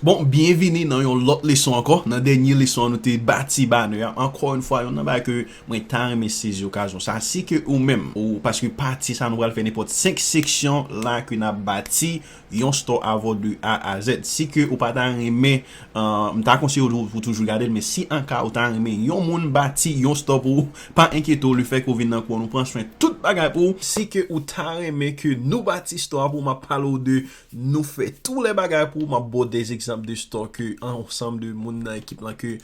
Bon byen vini nan yon lòt leson ankò nan dènye leson an nou te bati banè a ankò yon fwa yon nan bagay ke mwen ta renmen sezi okazyon sa si ke ou menm ou paske pati sa nou pral fè nenpòt 5 seksyon la ke nap bati Yon store avw de A a Z. Si ke ou pa ta renmen, m ta konseye w pou toujou gade l, men si an ka ou ta renmen yon moun bati yon store pou ou, pa enkyete w, le fè ke ou vin nan kou an nou pran swen tout bagay pou ou. Si ke ou ta renmen ke nou bati store a pou ou, map pale w de nou fè tou lè bagay pou ou, map ba w des egzanp de store ke ansanm de moun nan ekip lan ke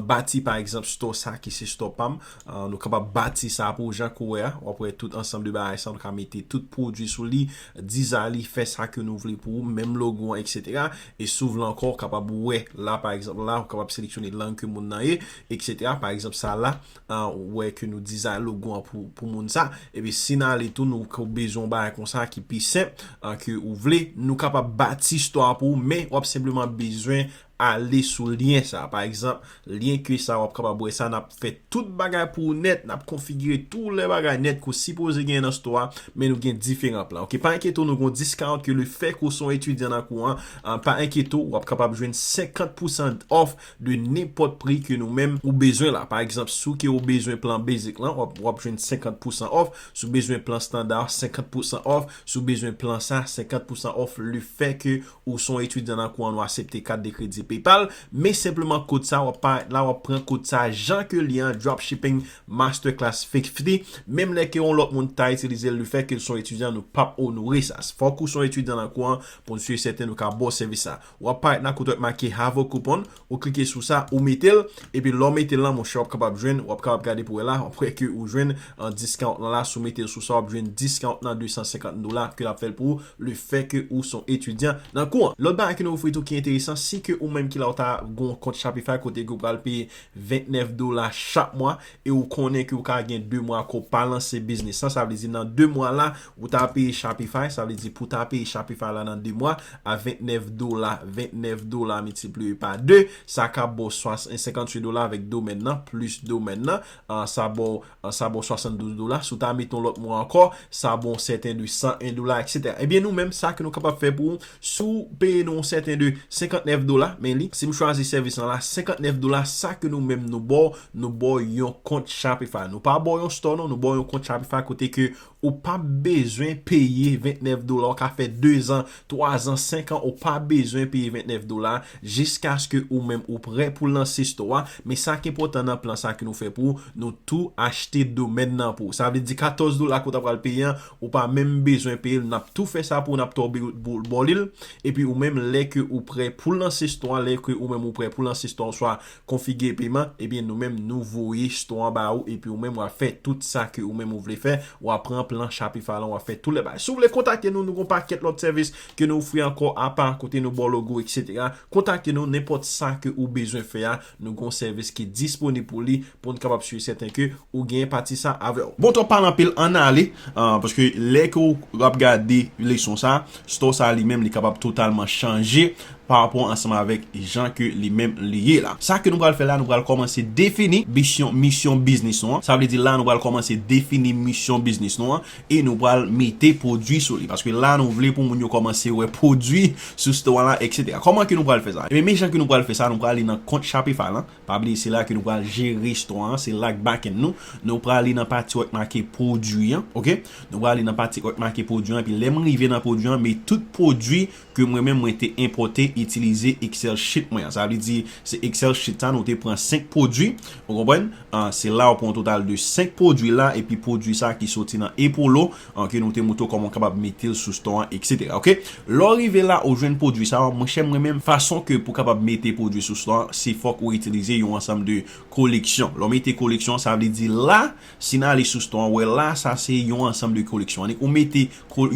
bati pa egzanp store sa ki se store pam. Nou kapab bati sa pou ou jan ke w wè a. W ap wè tout ansanm de bagay sa a, nou ka mete tout pwodui sou li, dizay li, fè sa ke nou vle pou ou, menm logo an eksetera. E si w vle ankò, w kapab wè la pa egzanp la, ou kapab seleksyone lang ke moun nan ye, eksetera. Pa egzanp sa la, ou wè ke nou dizay logo an pou moun sa. Epi si nan ale tou nou ke w bezwen yon bagay konsa ki pi senp ke ou vle, nou kapab bati istwa a pou ou men w ap senpleman bezwen Ale sou lyen sa a. Pa egzanp, lyen ke sa a w ap kapab wè sa, n ap fè tout bagay pou ou nèt, n ap konfigire tou lè bagay nèt ke w sipoze genyen nan sto a, men nou gen diferan plan. Ok, pa enkyete w nou gen yon discount ke lefèke w se yon etidyan nan kou an, pa enkyete w, w ap kapab jwenn 50 pousan off de nenpòt pri ke nou menm ou bezwen la. Pa egzanp, si w ke w bezwen plan basic lan, w ap jwenn 50 pousan off, si w bezwen plan standard, 50 pousan off, si w bezwen plan sa, 50 pousan off lefèke Ou son etidyan nan kou an nou asepte kat de kredi paypal men senpleman kod sa wap paret la wap pran kod sa jan ke li an dropshipping masterclass 50 menm lè ke yon lòt moun ta itilizel le fè ke son etidyan nou pap onore sa fòk ou son etidyan nan kou an poun sur e sèten nou ka baw sèvis sa wap paret la kote wap make have a coupon Ou klike sou sa, ou mete l, epi lè w mete l lan monchè w ap kapab jwenn, w ap kapab gade pou wè la, w ap wè ke ou jwenn discount lan la, si w mete l sou sa w ap jwenn discount lan 250 dola ke l ap fè l pou ou le fè ke ou se yon etidyan nan kou an. Lòt bagay ke nou ofri tou ki enteresan, si ke ou menm ki la ou ta gen yon kont Shopify kote ke ou pral peye 29 dola chak mwa e ou konnen ke ou ka gen 2 mwa ke ou pa lanse biznis lan, sa vle di nan 2 mwa la Ou ta peye Shopify, sa vle di pou ta peye Shopify la nan 2 mwa, a 29 dola, 29 dola miltipliye pa 2, sa ka ba w 58 dola avèk domèn nan, plis domèn nan, sa ba w, sa ba w 72 dola, si w ta mete yon lòt mwa ankò, sa ba w yon sèten de 101 dola, eksetera. Ebyen nou menm, sa ke nou kapab fè pou ou, si w peye nou yon sèten de 59 dola, men li, si m chwazi sèvis lan la, 59 dola, sa ke nou menm nou ba w, nou ba w yon kont Shopify. Nou pa ba w yon store non, nou ba w yon kont Shopify kote ke Ou pap bezwen peye 29 dola ou ka fè 2 zan, 3 zan, 5 an ou pa bezwen peye 29 dola jiskaske ou menm ou prè pou lanse store a, men sa ki enpòtan nan plan sa ke nou fè pou ou, nou tou achte domèn nan pou ou. Sa vle di 14 dola ke ou ta pral peye an, ou pa menm bezwen peye l, nap tou fè sa pou ou, nap tou bò li l, epi ou menm lè ke ou prè pou lanse store a, lè ke ou menm ou prè pou lanse store a oswa konfige peman ebyen nou menm nou voye store an ba ou epi ou menm wap fè tout sa ke ou menm ou vle fè wap pran plan shopify lan wap fè tout lè bagay si ou vle kontakte nou nou gon pakèt lòt sèvis ke nou ofri ankò apa kote nou baw logo etc kontakte nou nenpòt sa ke ou bezwen fè a nou gon sèvis ki disponib pou li poun kapab sur et certain ke ou gen pati sa avèw. Bon twòp pale anpil ann ale paske lè ke ou ap gade leson sa store sa li menm li kapab totalman chanje parapò ansanm avèk jan ke li menm li ye la. Sa ke nou pral fè la, nou pral kòmanse defini bisyon, misyon biznis nou an. Sa vle di la nou pral kòmanse defini misyon biznis nou an e nou pral mete pwodui sou li. Paske la nou vle pou moun yo kòmanse wè pwodui sou site w an la eksetera. Kòman ke nou pral fè sa? Ebyen men jan ke nou pral fè sa, nou pral ale nan kont Shopify lan. Pa bliye se la ke nou pral jere store an, se la k backend nou. Nou pral ale nan pati kote make pwodui an, ok. Nou pral ale nan pati kote make pwodui an epi lè m rive nan pwodui an, me tout pwodui ke mwen menm mwen te enpòte itilize excel sheet mwen an sa vle di se excel sheet sa nou te pran 5 pwodwi ou konprann se la ou pran yon total de 5 pwodwi la epi pwodwi sa ki soti nan epolo ke nou te moutre w kòman w kapab mete l sou stò an etc ok lè w rive la ou jwenn pwodwi sa mwen chè mwen menm fason ke pou kapab mete pwodwi sou stò an se fòk ou itilize yon ansanm de koleksyon lè w mete koleksyon sa vle di la. Si n ale sou store an, wè la sa se yon ansanm de koleksyon. Annik ou mete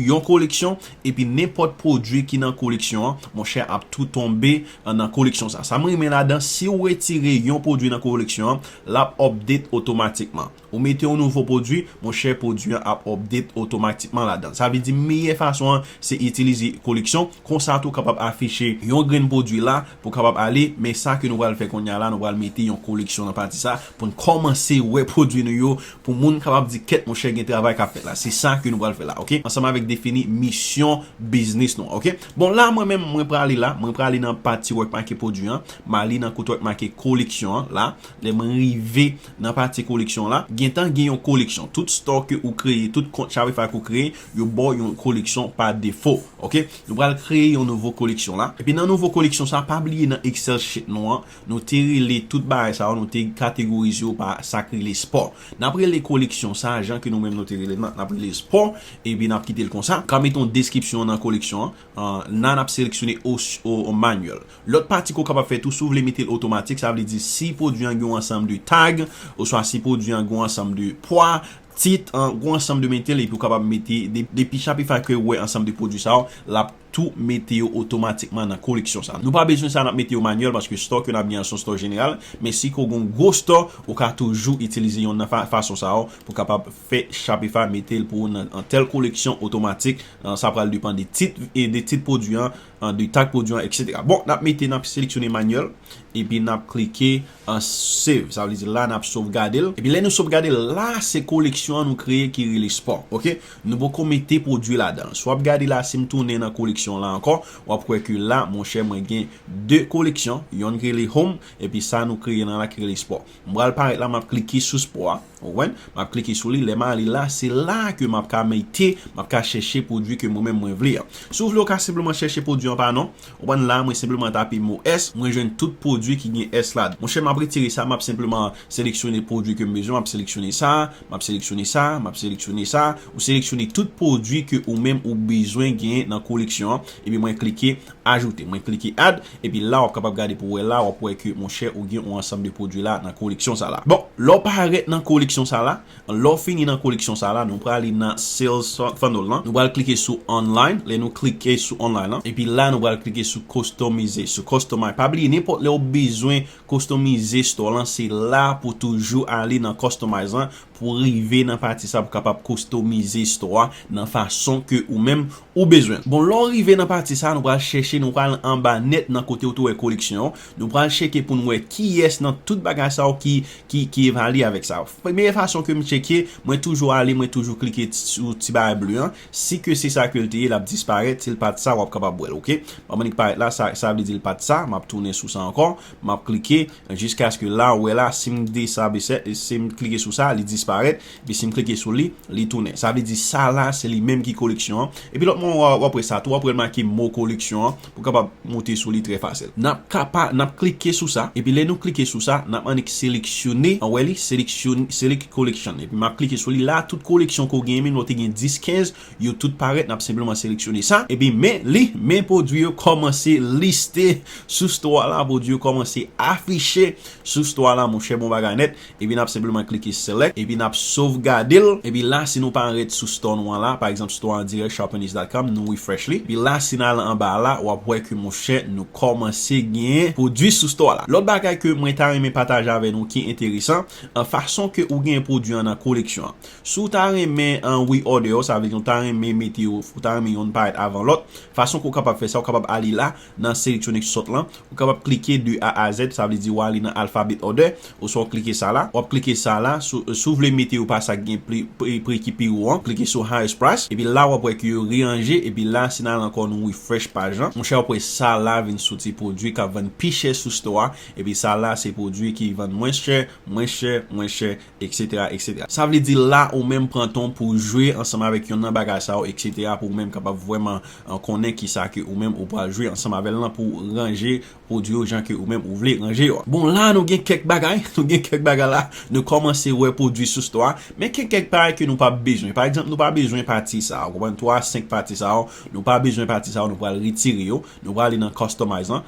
yon koleksyon epi nenpòt pwodui ki nan koleksyon an, monchè ap tou tonbe nan koleksyon sa. Sa m renmen ladan, si ou retire yon pwodui nan koleksyon an, l ap update otomatikman. Ou mete yon nouvo pwodui, monchè pwodui an ap update otomatikman ladan. Sa vle di meyè fason an se itilize koleksyon, konsa tou w kapab afiche yon grenn pwodui la Pou kapab ale, men sa ke nou pral fè kounye a la, nou pral mete yon koreksyon nan pati sa, pou n kòmanse wè pwodui nou yo, pou moun kapab di kèt monchè gen travay k ap fèt la. Se sa ke nou pral fè la, ok? Ansanm avèk defini misyon biznis nou an, ok? Bon, la mwen menm, mwen prale la, mwen prale nan pati wè k make pwodui an, m ale nan kote wè k make koleksyon an, la, lè mwen rive nan pati koleksyon la, gen tan gen yon koleksyon. Tout store ke ou kreye, tout kont Shopify ke ou kreye, yo ba w yon koleksyon pa defo, ok? Nou pral kreye yon nouvo koleksyon la. Epi nan nouvo koleksyon sa, pa bliye nan excel sheet nou an, nou te rele tout bagay sa yo, nou te kategorize yo pa sa k rele sport. N ap rele koleksyon sa jan ke nou menm nou te rele l nan, n ap rele l sport, epi n ap kite l konsa. Ka mete yon deskripsyon nan koleksyon an. Nan n ap seleksyone ou manual. Lòt pati ke w kapab fè tou, si w vle mete l otomatik, sa vle di si pwodui an gen yon ansanm de tag, oswa si pwodui an gen yon ansanm de pwa, Tit, an gwo ansanm de metel epi ou kapab mete depi Shopify ke wè ansanm de pwodwi sa yo lap tou mete yo otomatikman nan koleksyon sa nou pa bezwen sa nap mete yo manyèl paske store ke nap gen an son store jeneral men si ke ou gen yon gwo store ou ka toujou itilize yonn nan fason sa yo pou kapab fè Shopify metel pou ou nan tèl koleksyon otomatik sa pral depan de tit de tit pwodwi an de tag pwodwi an etc bon nap mete nap seleksyone manyèl epi nap klike. an save sa vle di la nap sovgade l epi lè nou sovgade l la se koleksyon an nou kreye ki rele spa ok nou poko mete pwodwi ladan l si wap gade la sim tounen nan koleksyon la ankò wap wè ke la monchè mwen gen 2 koleksyon yonn ki rele home epi sa nou kreye nan la ki rele spa m pral parèt la map klike sou spa a ou konprann map klike sou li lèm ale la se la ke map ka mete map ka chèche pwodwi ke mwen menm mwen vle an si w vle ou ka senpleman chèche pwodwi anba non Ou konprann la mwen senpleman tape mo S mwen jwenn tout pwodwi ki gen S la. Monchè map retire sa map senpleman seleksyone pwodwi kem bezwen map seleksyone sa map seleksyone sa map seleksyone sa ou seleksyone tout pwodwi ke ou menm ou bezwen genyen nan koleksyon an epi mwen klike ajoute mwen klike add epi la wap kapab gade pou wè la wap wè ke monchè ou gen yon ansanm de pwodwi la nan koleksyon sa la bon lè w parèt nan koleksyon sa la Lè w fini nan koleksyon sa la, nou prale nan Sales Funnel lan, nou pral klike sou Online, lè nou klike sou Online lan, epi la nou pral klike sou Kostomize, sou Customize, pa bliye nenpòt lè ou bezwen kostomize store lan se la pou toujou ale nan Customize lan pou rive nan pati sa pou kapab kostomize store a nan fason ke ou menm ou bezwen l. Bon lè w rive nan pati sa nou pral chèche nou pral anba nèt nan kote ou te wè koleksyon. Nou pral cheke poun wè kiyès nan tout bagay sa yo ki ki evalye avèk sa yo. Premye fason ke m cheke, mwen toujou ale mwen toujou klike sou ti bagay ble an, si ke se sa ke l te ye l ap disparèt, si l pat sa w ap kapab wè l ok. Banm li k parèt la, sa vle di l pat sa, m ap tounen sou sa ankò, m ap klike jiskaske la ou wè la si m de sa be sè, si m klike sou sa li disparèt, epi si m klike sou li, li tounen. Sa vle di sa la se li menm ki koleksyon an. Epi lòt mwa w ap wè sa tou, w ap wè l make mo koleksyon an. Ou kapab moute sou li trè fasel. Nap kapa, nap klike sou sa, epi lè nou klike sou sa, nap annik seleksyone, an wè li, seleksyon, select collection, epi map klike sou li la, tout koleksyon ke w genyen, menm lè w te gen 10, 15, yo tout parèt, nap senpleman seleksyone sa, epi men li, men pwodwi yo kòmanse liste sou store la, pwodwi yo kòmanse afiche sou store la, monchè bon bagay nèt. Epi nap senpleman klike select epi nap sovgade l epi la si nou pa anrèt sou store nou an la pa egzanp store an dirèk sharpenish dot com nou refresh li epi la si n al anba a la wap wè ke monchè nou kòmanse gen pwodwi sou store la. Lòt bagay ke mwen ta renmen pataje avè nou ki enteresan an fason ke ou gen pwodwi an nan koleksyon an si w ta renmen an reorder yo sa vle di ou ta renmen mete yo ou ta renmen yonn parèt avan lòt fason ke ou kapab fè sa ou kapab ale la Nan Selectronic Sort lan, ou kapab klike de A a Z, sa vle di wa li nan Alphabet Order, oswa w klike sa la. Wap klike sa la, si w vle mete yo pa sa ki gen pri ki pi wo an, klike sou Highest Price, epi la wap wè ke yo reranje, epi la si n al ankò nou refresh paj lan, monchè wap wè sa la vin soti pwodwi kap vann pi chè sou store a, epi sa la se pwodwi ki vann mwens chè, mwens chè, mwens chè, Eksetera eksetera Sa vle di la ou menm pran tan w pou w jwe ansanm avèk yonn nan bagay sa yo eksetera pou ou menm kapab vrèman konnen kisa ke ou menm ou pral jwe ansanm avè l lan pou w ranje pwodui yo jan ke ou menm ou vle ranje yo. Bon la nou gen kèk bagay nou gen kèk bagay la nou kòmanse wè pwodui sou stò a men gen kèk bagay ke nou pa p bezwen pa egzanp nou pa bezwen pati sa ou konprann 3 a 5 pati sa yo nou pa bezwen pati sa yo nou pral retire yo Nou prale nan customize lan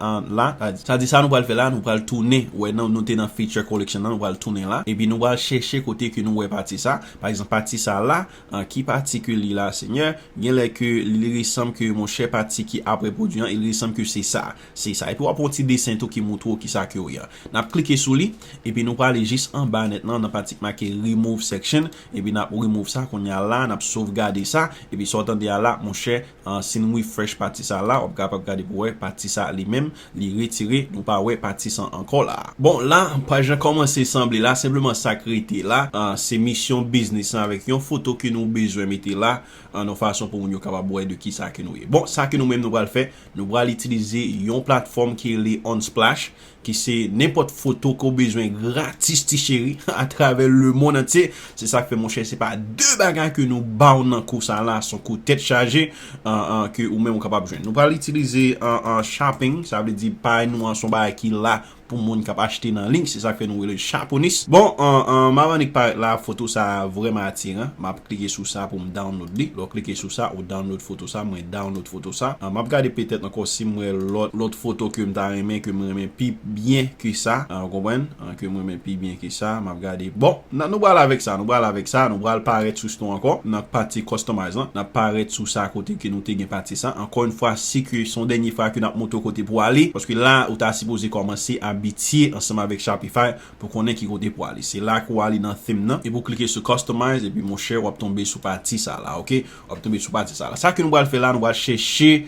an la sa di sa nou pral fè la nou pral tounen wè nan nou te nan feature collection lan nou pral tounen la epi nou pral chèche kote ke nou wè pati sa pa egzanp pati sa la an ki pati ke li la senyè genlè ke li resanm ke monchè pati ki apre pwodwi an il resanm ke se sa se sa epi wap wè yon ti desen tou ki moutre w kisa ke w ye nap klike sou li epi nou prale jis anba nèt lan nan pati ki make remove section epi nap remove sa kounya la nap sovgade sa epi sa w tande a la monchè Si nou refresh pati sa la wap kapab gade pou wè pati sa li menm li retire nou pa wè pati san ankò la. Bon la paj lan kòmanse sanble la senpleman sak rete la se misyon biznis lan avèk yon foto ke nou bezwen mete la an yon fason pou moun yo kapab wè de kisa ke nou ye. Bon sa ke nou menm nou pral fè nou pral itilize yon platfòm ki rele Unsplash ki se nenpòt foto ke w bezwen gratis ti cheri atravè le mond antye, se sak fè monchè se pa de bagay ke nou ba w nan kou sa la, son kou tèt chaje ke ou menm ou kapab jwenn. Nou pral itilize shopping, sa vle di pay nou an son bagay ki la pou moun kap achte nan liy, se sak fè nou rele l chaponis. Bon, map annik parèt la, foto sa vrèman atiran, map klike sou sa pou m download li, lè w klike sou sa ou download foto. foto sa mwen download foto sa an map gade petèt ankò sim wè lòt lòt foto kem ta renmen kem renmen pi byen ke sa an ou konprann an kem renmen pi byen ke sa map gade bon nan nou pral avèk sa nou pral avèk sa nou pral parèt sou ston ankò nan pati customize lan nap parèt sou sa kote ke nou te gen pati sa ankò yn fwa si ke son dènye fwa ke nap montre w kote pou ale paske la ou ta sipoze kòmanse abitye ansanm avèk shopify pou konnen ki kote pou ale se la ke ou ale nan theme nan epi ou klike sou customize epi monchè wap tonbe sou pati sa la ok W ap tonbe sou pati sa la. Sa ke nou pral fè la, nou pral chèche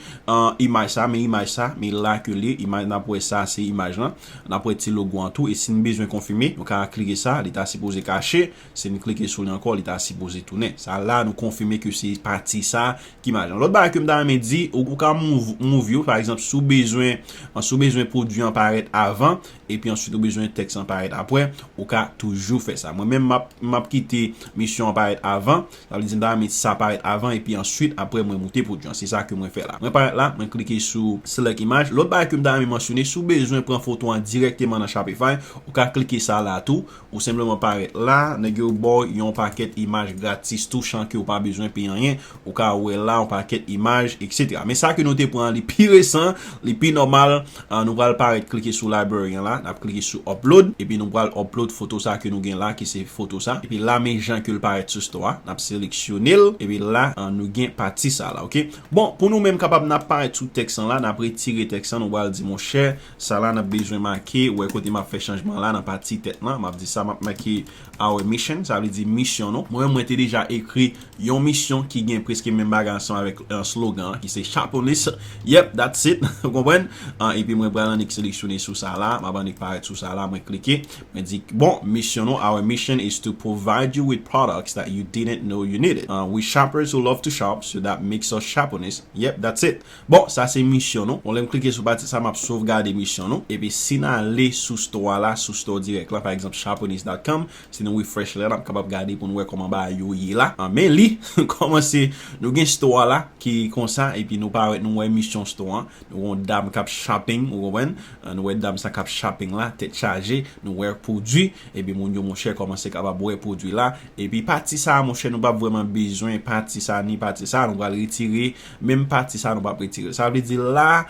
imaj sa, men imaj sa, men la ke li, imaj n ap wè sa se imaj lan, n ap wè ti logo an tou, e si n bezwen konfime, nou ka klike sa, li ta sipoze kache, si n klike sou li ankò, li ta sipoze tounen. Sa la, nou konfime ke se pati sa ki imaj lan. Lòt bagay ke m ta renmen di, ou ka move yo, pa egzanp, si w bezwen, si w bezwen pwodui an parèt avan, epi answit ou bezwen tèks lan parèt apwè ou ka toujou fè sa mwen menm map map kite misyon an parèt avan sa vle di m ta renmen sa parèt avan epi answit apwè mwen moute pwodwi an se sa ke mwen fè la mwen parèt la mwen klike sou select image lòt bagay ke m ta renmen mansyone si w bezwen pran foto an dirèkteman nan shopify ou ka klike sa la tou Ou senpleman parèt la, nèg yo baw yon pakèt imaj gratis tou chan kew pa bezwen peye anyen, ou ka wè la yon pakèt imaj etc. Men sa ke nou te pran li pi resan, li pi nòmal, nou pral parèt klike sou library an la, nap klike sou upload, epi nou pral upload foto sa ke nou gen la ki se foto sa, epi la men jan kel parèt sou store a, nap seleksyonel, epi la nou gen pati sa la ok. Bon pou nou menm kapab nap parèt sou tèks lan la, nap retire tèks lan nou pral di monchè Sa la nap bezwen make, wè kote map fè chanjman la nan pati tèt lan, map di sa map make our mission, sa vle di misyon nou. Mwen menm mwen te deja ekri yon misyon ki gen preske menm bagay ansanm avèk slogan an ki se Chaponis, yep that's it ou konprann? Epi mwen pral annik seleksyone sou sa la, map annik parèt sou sa la, mwen klike, mwen di bon misyon nou our mission is to provide you with products that you didn't know you needed, we shoppers who love to shop, so that makes us Chaponis, yep that's it. Bon sa se misyon nou. Bon lèm klike sou pati sa map sovgade misyon nou. Epi si n ale sou store a la, sou store direct la pa egzanp Chaponist dot com, si nou refresh li la nap kapab gade pou nou wè kòman bagay yo ye la. An men li kòmanse nou gen store a la ki konsa epi nou pa wè nou wè misyon store an. Nou wè yon dam kap shopping ou konprann. Nou wè dam sa kap shopping la tèt chaje. Nou wè pwodwi epi moun yo monchè kòmanse kapab wè pwodwi la. Epi pati sa monchè nou pap vrèman bezwen pati sa ni pati sa. Nou pral retire. Menm pati sa nou pap retirel. Sa vle di la,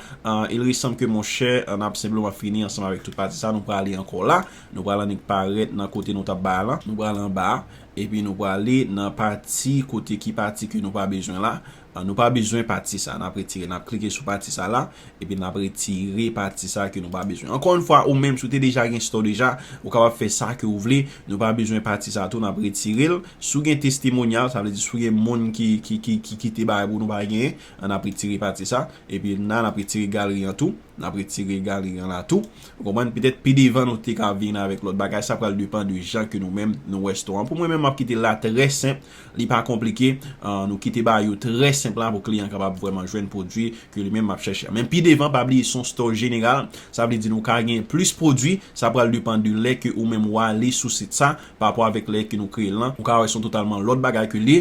il resanb ke mon chè, an ap senpleman fini ansanm avèk tout pati sa, nou prale ankò la, nou pral annik parèt nan kote nou tap bay lan, nou pral anba, epi nou prale nan pati kote ki pati ke nou pa bezwen la, nou pa bezwen pati sa, nap retirel, nap klike sou pati sa la, epi nap retire pati sa ke nou pa bezwen ankò yon fwa ou menm si ou te deja gen store deja ou kapab fè sa ke ou vle nou pa bezwen pati sa tou nap retirel si ou gen testimonial sa vle di si ou gen moun ki kite bagay pou nou pa gen an nap retire pati sa epi nan nap retire galri an tou nap retire galri an la tou ou konprann petèt pi devan nou te ka vin avèk lòt bagay sa pral depan de jan ke nou menm nou wè store an pou mwen menm map kite la trè senp Li pa konplike, nou kite ba yo trè senp la pou kliyan kapab vrèman jwenn pwodwi ke li menm ap chèche a. Men pi devan pa bliye son store jeneral, sa vle di nou ka gen plis pwodwi, sa pral depan de lè ke ou menm ou ale sou sit sa pa rapò avèk lè ke nou kreye l lan, ou ka wè son totalman lòt bagay ke li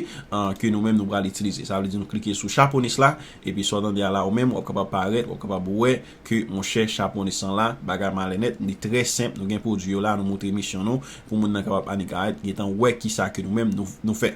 ke nou menm nou pral itilize. Sa vle di nou klike sou chaponis la, epi sa w tande a la ou menm wap kapab parèt, wap kapab wè ke monchè chapone san la bagay malè nèt li trè senp nou gen pwodwi yo la nou moutre misyon nou pou moun nan kapab annik arèt gentan wè kisa ke nou menm nou fè.